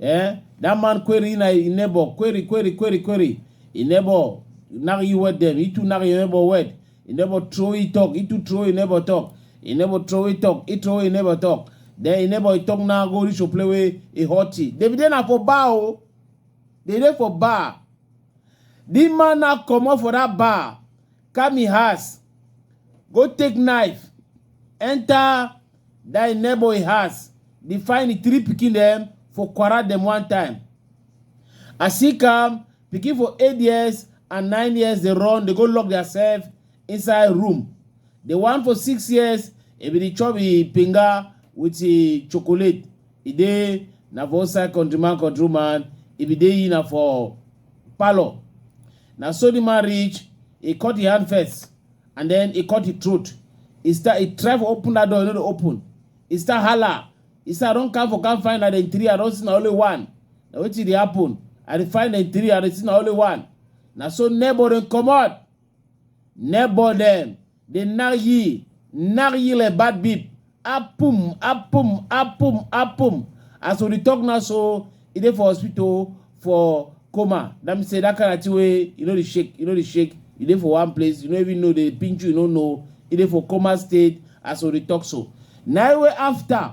eh that man query na in neighbor query query query query in neighbor knock you wet them it too knock your neighbor wet in neighbor throw it talk it too throw in neighbor talk in neighbor throw it talk it throw in neighbor talk then in neighbor talk now go reach to play with a hot tea david dey na for bar o dey dey for bar the man now comot for that bar come him house go take knife enter Die neighbor in house, dey find the three pikin dem for quarrel dem one time. As he come, pikin for eight years and nine years dey run, dey go lock theirself inside room. The one for six years, e bin dey chop e pinga with e chocolate. E dey na for outside country man, country woman, e bin dey e na for parlour. Na so the man reach, e cut e hand first, and then he cut the throat he start he try for open that door he no dey open he start hala he start run come for come find na dem three i don see na only one na wetin dey happen i dey find dem three i dey see na only one na so neighbor dem comot neighbor dem dey knack ye knack ye like bad beep Apum, apum, apum, apum. As we dey talk now so, e dey for hospital for coma. That means say that kind of thing wey you no dey shake, you no dey shake, you dey for one place, you no even know dey pinch you, you no know. E dey for coma state as we dey talk so. Na im wey after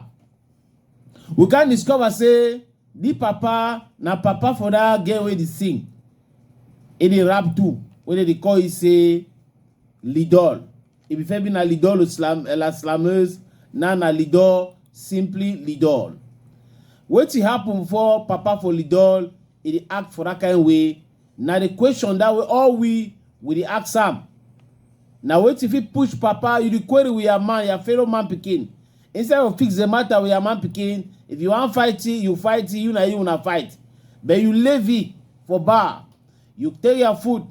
we come discover say the papa na papa for that girl wey dey sing. E dey rap too, wey dem dey call you say Lidol. If you fair be na lidol slam la slameuse na na lidol simply lidol. Wetin happen before papa for lidol e dey act for that kind way na the question that way all we we dey ask am. Na wetin fit push papa you dey query with your man your fellow man pikin instead of fix the matter with your man pikin if you wan fight it, you fight it, you na you una fight but you leave it for bar you take your food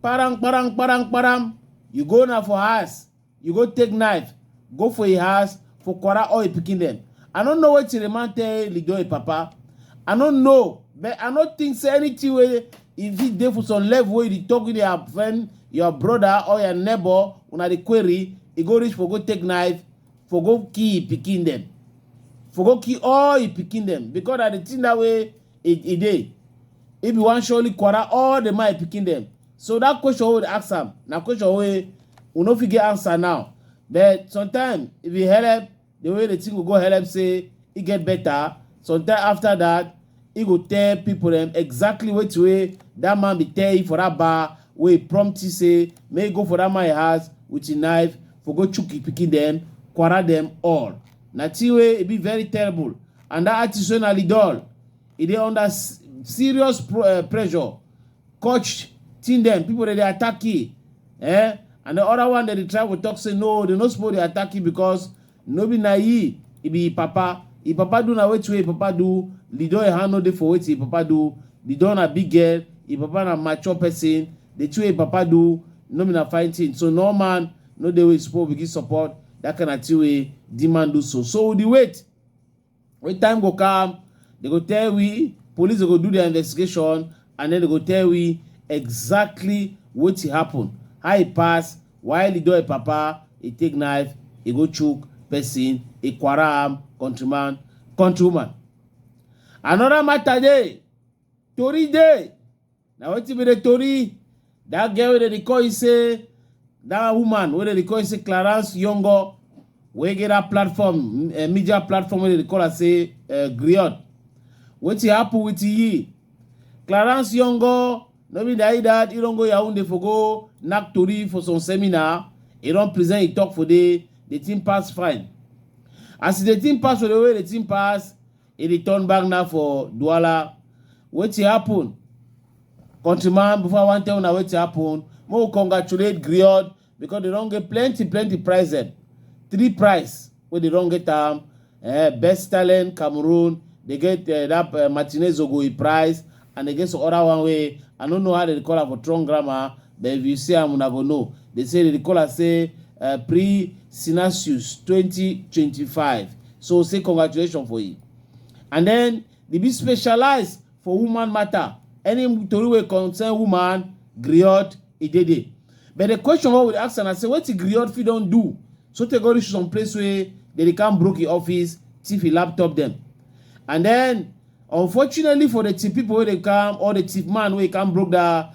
kparam kparam kparam kparam you go na for house you go take knife go for im house for kwara all im pikin dem i no know wetin the man tell lido im papa i no know but i no think say anything wey e fit dey for some level wey you dey talk with your friend your brother or your neighbor una dey query e go reach for go take knife for go kill im pikin dem for go kill all im pikin dem because na the thing that way e e dey if you wan surely quarrel all the my pikin dem so that question wey we ask am na question wey we no fit get answer now but sometimes if you help the way the thing go go help say e get better sometimes after that e go tell people dem exactly wetin wey that man be tell you for that bar wey prompt you say make you go for that man house with your knife for go chook your pikin dem quarrel dem all na thing wey e be very terrible and that artist wey na lidol e dey under s- serious pro, uh, pressure coach team dem people dey dey attack e eh and the other one dey dey try to talk say no they no suppose dey attack e because no be na e e be e papa e papa do na wetin wey e papa do lidol e hand no dey for wetin e papa do lidol na big girl e papa na mature person the two wey e papa do no be na fine thing so no man no dey wey suppose begin support that kind of thing wey the man do so so we dey wait When time go come, they go tell we, police go do their investigation, and then they go tell we exactly what happened, how he pass, why he do a papa, he take knife, he go choke person, he quaram, countryman, countrywoman. Another matter day, tori dey na wetin be the tori that girl wey dem dey call you say that woman wey dem dey call you say clarence yongo wey get that platform uh, media platform wey dem dey call her say uh, griot wetin happen with yi clarence yongo no be that that he don go yaounde for go knack tori for some seminar he don present he talk for there the thing pass fine as the thing pass for the way the thing pass e dey turn back now for Douala. Wetin happen? Countryman, before I wan tell una wetin happen, make we congratulate Griot because they don get plenty plenty prize dem. Three prize wey they don get am. Eh, best talent Cameroon, they get eh, that eh, Martinez Ogoyi prize and they get some other one wey I no know how they dey call am for Tron grammar. But if you see am una go know. They say they dey call am say uh, pre Sinasius 2025. So say congratulations for you. And then they be specialized for woman matter. Any tori wey concern woman, griot, e dey there. But the question wey we dey ask am na say wetin griot fit don do so tey go reach some place wey they dey come broke im office, thief im laptop dem. And then unfortunately for the thief people wey dey come or the thief man wey come broke that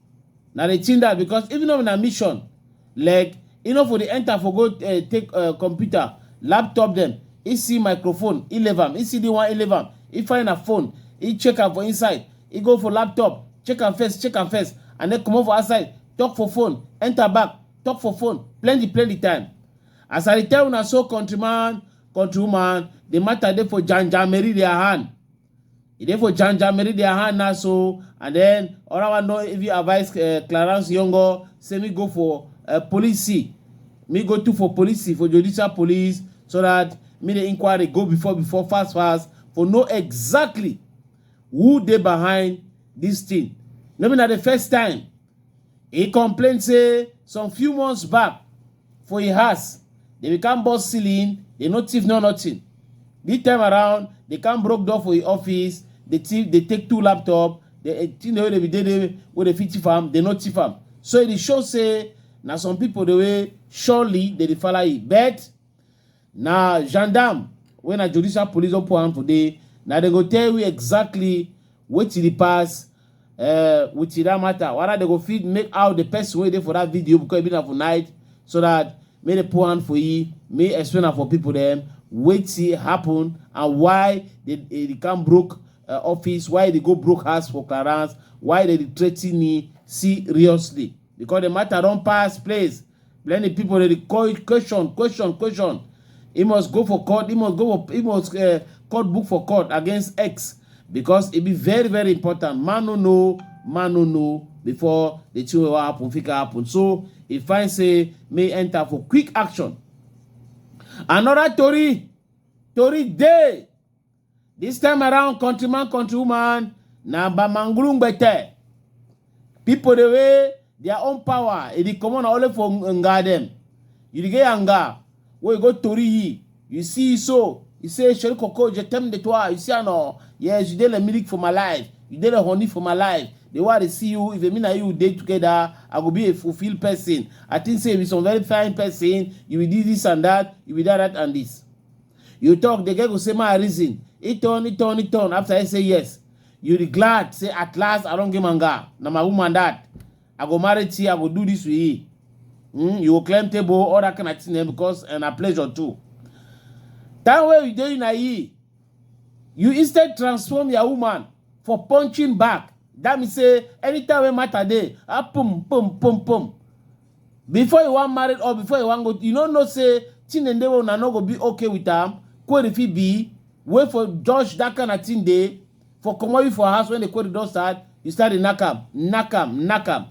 Na the thing that because even though na mission, like e no for dey enter for go uh, take uh, computer, laptop dem, e see microphone, e leave am, e see the one, e leave am, e find her phone, e check am for inside, e go for laptop, check am first, check am first, and then comot for outside, talk for phone, enter back, talk for phone, plenty plenty time. As I dey tell una so countryman, countrywoman, the matter dey for Jan Jan Mary their hand. e dey for janja meri their hand now so and then other one don even advise uh, clarence yongo say me go for uh, police see me go to for police see for judicial police so that me the inquiry go before before fast fast for know exactly who dey behind this thing no be na the first time he complain say some few months back for him house they bin come burst ceiling they no thief no nothing this time around they come broke door for him office they thief they take two laptop the eh, thing wey dey be dey dey wey dey fit thief am they no thief am so e dey show say na some people the way surely they dey follow you but Na gendarme wey na judicial police don put hand for dey, na dem go tell we exactly wetin dey pass um with that matter, whether dem go fit make out the person wey dey for that video because e be na for night so that make dem put hand for e, make e explain am for people dem wetin happen and why the the can broke um office, why e dey go broke house for clearance, why dem dey threaten e seriously because the matter don pass place Plenty people dey dey call it question, question, question. He must go for court. He must go for he must uh, court book for court against X because it be very very important. Man no know, man no know before the thing wey wan happen fit can happen. So he find say may enter for quick action. Another tori, tori dey This time around, countryman, countrywoman, na Bamangulungbete. People the way their own power, it is common only for Nga them. You dey get Nga, where you go Tori yi, you see so, you say, Shori Koko, je t'aime de toi, you see, I know, yes, you dey the milk for my life, you dey the honey for my life. The way I dey see you, if me and you dey together, I go be a fulfilled person. I think say you be some very fine person, you be this, this and that, you be that, that and this. You talk, the girl go say, my reason. He turn, he turn, he turn. After I say yes, you be glad. Say at last I don't give manga. Now my woman that I go marry to you, I go do this with you. Mm, you go climb table, all that kind of thing eh, because and a pleasure too. That way you doing you, you instead transform your woman for punching back. That means say anytime we matter day, ah pum pum pum pum. before you wan marry or before you wan go you no know say chinende wey una no go be okay with am query fit be wey for judge that kind of thing dey for comot you for house when the query don start you start dey knack am knack am knack am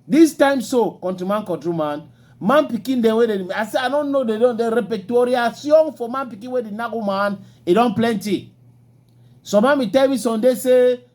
this time so countryman countryman man pikin dem wey dey i say i no know they don dey repetitoriation for man pikin wey dey knack woman e don plenty some mami tell me sunday say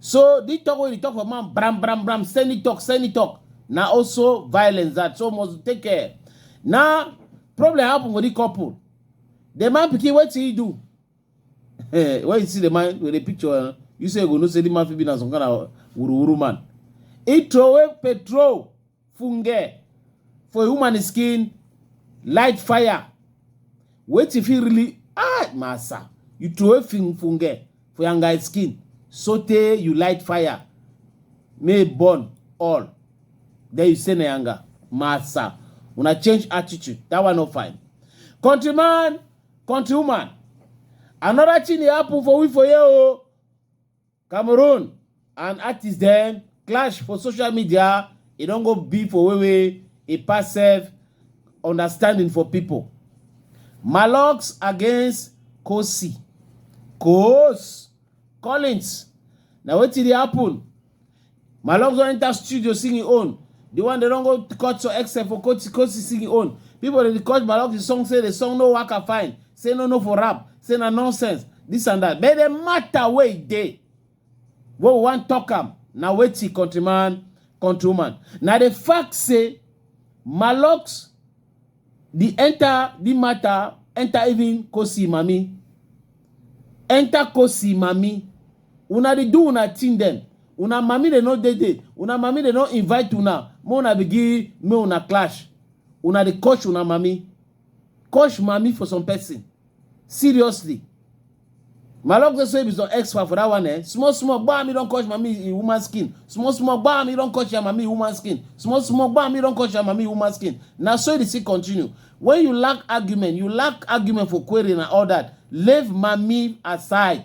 So the talk wey you talk for man, bram bram bram, send it talk, send it talk. Now also violence that so must take care. Now problem happen with the couple. The man pikin what he do? Eh, when you see the man with the picture, eh, you say you go know say the man fit be na some kind of wuru wuru man. He throw away petrol funge for a woman skin light fire wetin fit really ah massa you throw funge for your guy skin sotey you light fire may burn all then you say na yanga massa una change attitude that one no fine countryman countrywoman another thing dey happen for we for here o. Oh. Cameroon and artist dem clash for social media, e don go be for way wey e pass sef understanding for pipo. Malox against Kosi, Koos, Collins na wetin dey happen. My love don enter studio sing im own. The one they don't go cut to except for Kosi Kosi sing im own. People they cut Malok the song say the song no work and fine. Say no no for rap. Say na nonsense. This and that. But the matter where e dey. What we want talk am. Now wait till countryman, countrywoman. Now the fact say Malox The enter the matter enter even Kosi mami. Enter Kosi mami. Una dey do una thing dem. Una mami dey no dey there. Una mami dey no invite una. Make una begin make una clash. Una dey coach una mami. Coach mami for some person. seriously my love go say if it's on x for that one eh small small gbam me don catch mami in woman skin small small gbam me don catch your mami in woman skin small small gbam me don catch your mami in woman skin na so e dey still continue when you lack argument you lack argument for query and all that leave mami aside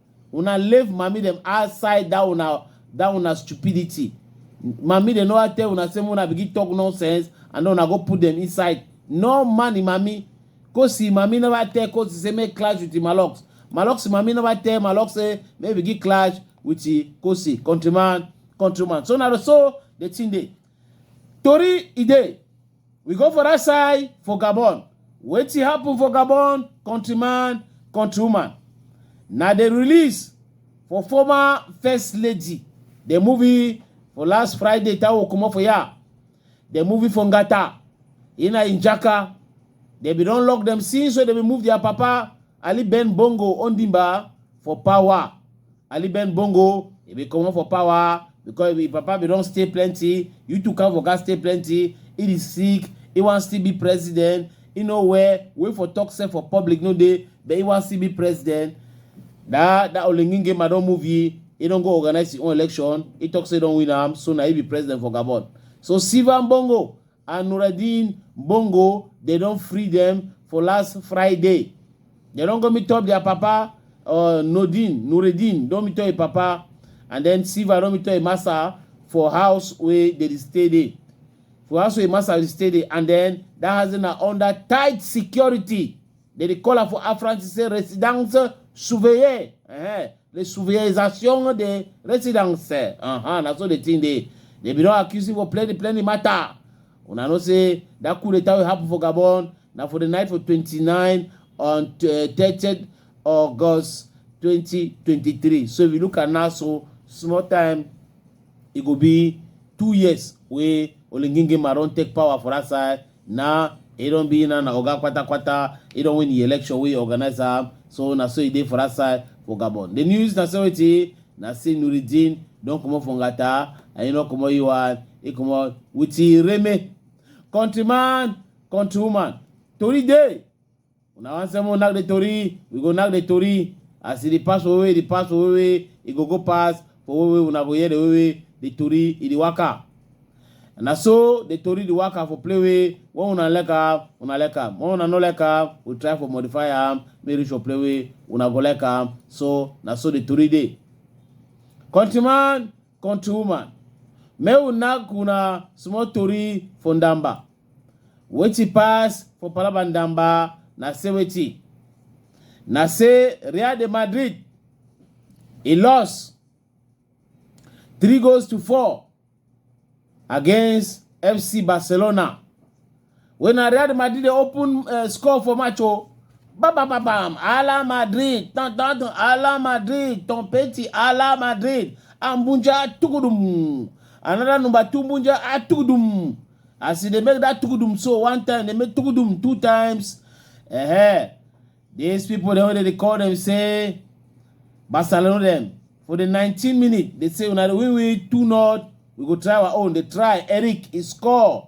Una leave mami dem outside that una that una stupidity. Mami dem no wan tell una say make una begin talk nonsense and then una go put dem inside. No man im mami. Kosi im mami never tell Kosi say make clash with im Malox. Malox im mami never tell Malox say make begin clash with im Kosi countryman countryman. So na so the thing dey. Tori e dey. We go for that side for Gabon. Wetin happen for Gabon, countryman, countrywoman. Na the release for former first lady. The movie for last Friday tawo comot for ya. The movie for Ngata. Ina Injaka. They be don lock them since so they be move their papa Ali Ben Bongo Ondimba for power. Ali Ben Bongo, he be coming for power because if Papa be don't stay plenty, you two come for God stay plenty. He is sick, he wants to be president. You know where wait for talk say for public no day, but he wants to be president. That that Olengin game I don't move ye. He don't go organize his own election. He talks he don't win am, so now he be president for Gabon. So Sivan Bongo, and Nuruddin Bongo dem don free dem for last Friday. Dem don go meet up their papa uh, Nodin Nuruddin don meet up im papa and then Silva don meet up im massa for house wey dem dey stay dey. For house wey im massa dey stay dey and then that house dey na under tight security. Dem dey call am for Afranc say residence surveillée. Uh-huh. the souverisation the residence uh -huh, na so the thing dey they be don accuse you for plenty plenty matter una know say that coup d'etat wey happen for gabon na for the night for 29 on uh, 30 august 2023 so if you look at now so small time e go be two years wey olengengema don take power for that side Nah, e don be na na oga kwata kwata, e don win the election wey organise am, so na so e dey for that side for Gabon. The news na say wetin? Na say Noureddine don comot for Ngata and e no comot e one, e comot with e reme. Countryman, countrywoman, tori dey! una wan say mo knack the tori we go knack the tori as e dey pass for wewe dey pass for wewe e go go pass for wewe una go hear the wewe the tori e dey waka na so the tori dey waka for play wey when una like am una like am when una no like am we try for modify am make reach for play wey una go like am so na so the tori dey countryman country woman make we knack una small tori for ndamba wetin pass for palaba ndamba na say wetin na say real de madrid e loss three goals to four against fc barcelona When na Real Madrid dey open uh, score for match o. Bam bam bam bam. Ala Madrid. Tan tan tan. Ala Madrid. Tom Petty. Ala Madrid. Ambunja Tugudum. Another number two Bunja ah, Tugudum. As e dey make that Tugudum so one time, they make Tugudum two times. Uh-huh. These people dem wey dey dey call them say Barcelona dem for the 19 minute they say una dey win win two not we go try our own they try Eric he score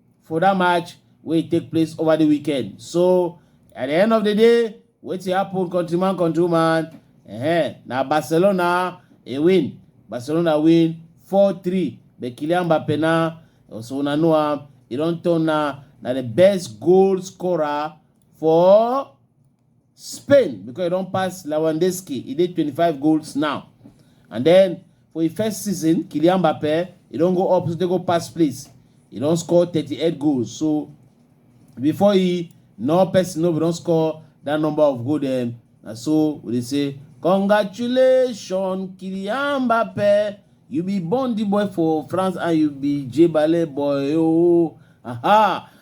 for that match wey take place over the weekend so at the end of the day wetin happen countryman countrywoman uh-huh, na barcelona e win barcelona win 4-3 but kylian mbappe na also una know am e don turn na na the best goal scorer for Spain because e don pass Lewandowski, e dey 25 goals now. And then for im first season, Kylian Mbappe, e don go up, dey go pass place. E don score 38 goals. So before e, no person no don score that number of goals. Then na so we dey say, congratulations, Kylian Mbappe. You be Bondi boy for France and you be Jebale boy. Oh, aha.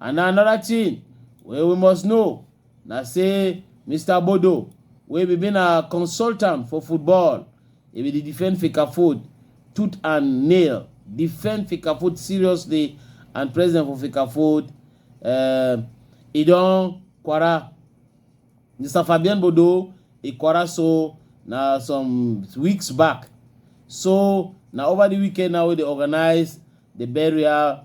And na another thing wey we must know na say Mister Bodo wey be been a consultant for football, e be dey defend Fecafoot tooth and nail, defend Fecafoot seriously and president for Fecafoot uh, e don kwara Mr. Fabian Bodo e kwara so na some weeks back. So na over the weekend now wey dey organize the burial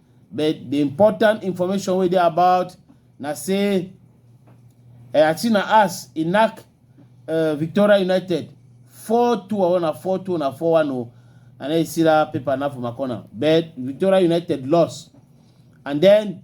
but the important information wey dey about na say Atsina as e knack uh, Victoria United 4-2 or na 4-2 or na 4-1 o. I know you see that paper now for my corner. But Victoria United lost. And then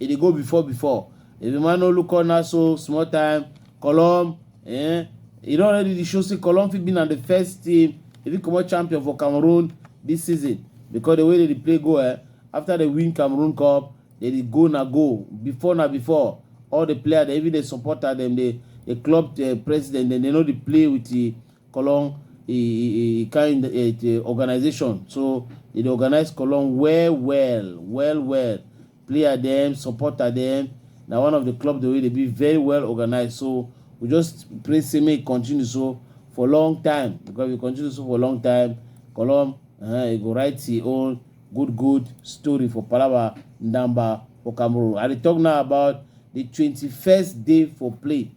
e dey go before before if the man no look on na so small time column eh e don already dey show say column fit be na the first team e fit comot champion for cameroon this season because the way they dey play go eh after they win cameroon cup they dey go na go before na before all the player they even dey support am dem dey the club the president dem dey no dey play with the column e e e kind eh, the organization so they dey organize column well well well well player dem, supporter dem. Na one of the club dem wey dey be very well organized. So we just pray say make e continue so for long time because we continue so for long time, Colom uh, e go write his own good good story for Palaba Ndamba for Cameroon. I dey talk now about the 21st day for play.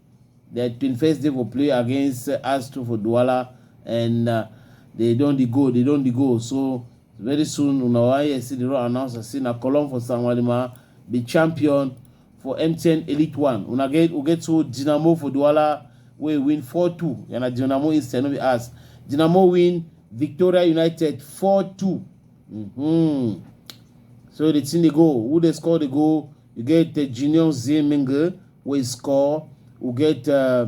The 21st day for play against uh, Astro for Douala and uh, they don dey go, they don dey go. So Very soon una go hear see the raw announcer say na Colum for Sanwalima be champion for MTN Elite One. Una get we get so Dynamo for Douala wey win 4-2. Yeah, na Dynamo instead no be us. Dynamo win Victoria United 4-2. Mm-hmm. So the thing they go, who they score they go. You get uh, Junior Zemenge wey score. You get uh,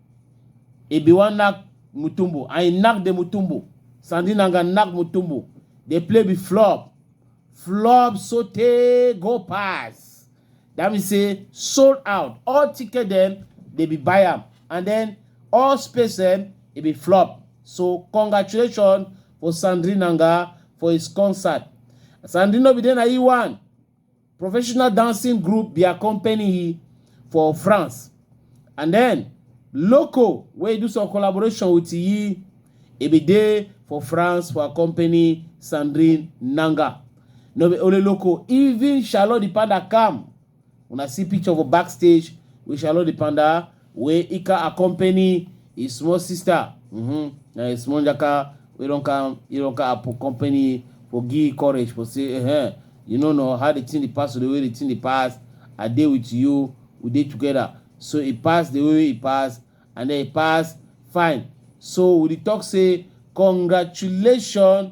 Ebe wan knack Mutombo and he knack the Mutombo. Sandy Nanga knack Mutombo. The play be flop. Flop sotey go pass. That means say sold out. All ticket dem dey be buy am and then all space dem e be flop. So congratulations for Sandri Nanga for his concert. Sandri no be dey na he one. professional dancing group dia company for France. And then Loco wey do some collaboration with Yi, e be dey for France for her company Sandrine Nanga. No be only Loco, even Charlotte the Panda come. Una see picture for backstage with Charlotte the Panda wey e can accompany his small sister mm-hmm. na his small jaka wey don come he don come accompany for give courage for say eh you no know how the thing dey pass or the way the thing dey pass i dey with you we dey together so e pass the way e pass and then e pass fine so we dey talk say congratulations